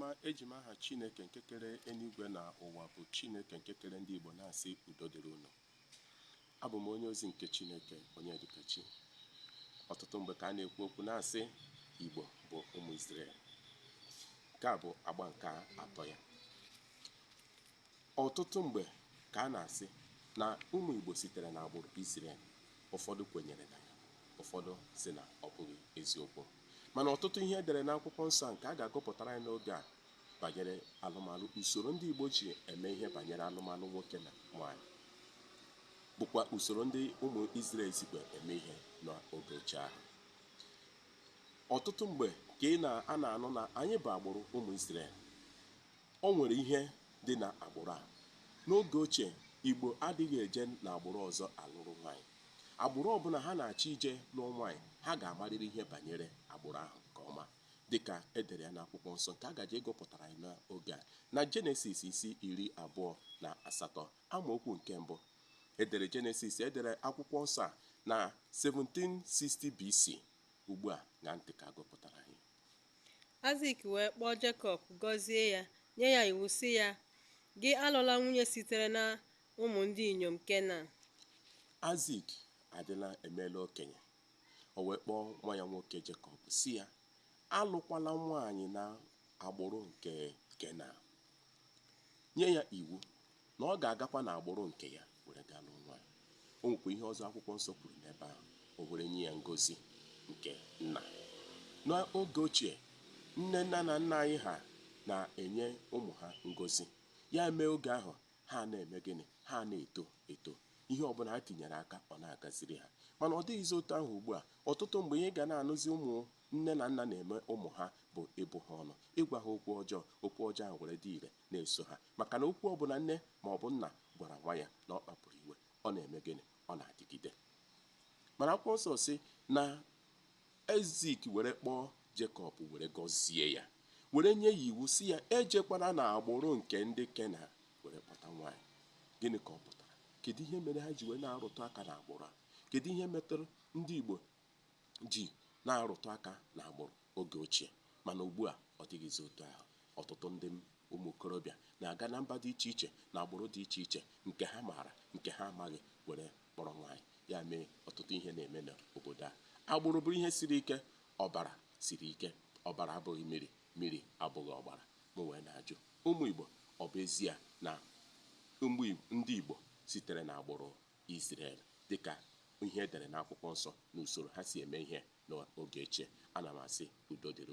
ma eji m aha Chineke nke kere eluigwe na ụwa bụ Chineke nke kere ndị Igbo na-asị udo dịrị unu abụ m onye ozi nke Chineke Onyedịkachi ọtụtụ mgbe ka a na-ekwu okwu na-asị Igbo bụ ụmụ Izrel nke a bụ agba nke atọ ya Ọtụtụ mgbe ka a na-asị na ụmụ Igbo sitere n'agbụrụ Izrel. Ụfọdụ kwenyere na ya, ụfọdụ sị na ọ bụghị eziokwu. Mana ọtụtụ ihe e dere n'akwụkwọ nsọ nke a ga-agụpụtara anyị n'oge a banyere alụmalụ, usoro ndị Igbo ji eme ihe banyere alụmalụ nwoke na nwaanyị, bụkwa usoro ndị ụmụ Izrel sikwa eme ihe n'oge ochie ahụ. Ọtụtụ mgbe ka ị na a na-anụ na anyị bụ agbụrụ ụmụ Izrel. O nwere ihe dị na agbụrụ a. N'oge ochie, Igbo adịghị eje n'agbụrụ ọzọ alụrụ nwaanyị. Agbụrụ ọbụla ha na-achọ ije lụọ nwaanyị, ha ga-amarịrị ihe banyere agbụrụ ahụ nke ọma dịka e dere ya n'akwụkwọ nsọ nke a gaje ịgụpụtara anyị n'oge a. Na Jenesis isi iri abụọ na asatọ amaokwu nke mbụ, e dere Jenesis, e dere akwụkwọ nsọ a na 1760 BC. Ugbu a, ṅaa ntị ka a gụpụtara anyị. Aịzik wee kpọọ Jekọb, gọzie ya, nye ya iwu sị ya, Gị alụla nwunye sitere na ụmụ ndị inyom Kenan. Aịzik adịla emeela okenye. O wee kpọọ nwa ya nwoke Jekọb sị ya, Alụkwala nwaanyị na agbụrụ nke Kenan. Nye ya iwu na ọ ga-agakwa n'agbụrụ nke ya were gaa lụọ nwaanyị. O nwekwa ihe ọzọ akwụkwọ nsọ kwuru n'ebe ahụ, o were nye ya ngozi nke nna. N'oge ochie, nne nna na nna anyị ha na-enye ụmụ ha ngozi. Ya emee oge ahụ ha na-eme gịnị? Ha na-eto eto. Ihe ọbụla ha tinyere aka ọ na-agaziri ha. Mana ọ dịghịzi otu ahụ ugbu a. Ọtụtụ mgbe ihe ị ga na-anụzi ụmụ nne na nna na-eme ụmụ ha bụ ịbụ ha ọnụ, ịgwa ha okwu ọjọọ, okwu ọjọọ ahụ were dị ire na-eso ha maka na okwu ọ bụla nne ma ọ bụ nna gwara nwa ya na ọ kpapụrụ iwe ọ na-eme gịnị ọ na-adịgide mana akwụkwọ nsọ sị na Aịzik were kpọọ Jekọb were gọzie ya were nye ya iwu sị ya ejekwana na agbụrụ nke ndị Kenan were kpọta nwaanyị gịnị ka ọ pụtara kedu ihe mere ha ji wee na-arụtụ aka na agbụrụ a kedu ihe metụrụ ndị Igbo ji na-arụtụ aka n'agbụrụ oge ochie mana ugbu a ọ dịghịzi otu ahụ. Ọtụtụ ndị ụmụ okorobịa na-aga na mba dị iche iche na agbụrụ dị iche iche nke ha maara nke ha amaghị were kpọrọ nwaanyị, ya mee ọtụtụ ihe na-eme n'obodo a. Agbụrụ bụ ihe siri ike, ọbara siri ike, ọbara abụghị miri, miri abụghị ọbara. Mụ wee na-ajụ, ụmụ Igbo, ọ bụ ezie na ndị Igbo sitere n'agbụrụ Izrel dị ka ihe e dere n'Akwụkwọ Nsọ n'usoro ha si eme ihe n'oge ochie, ana m asị, Udo dịrị unu.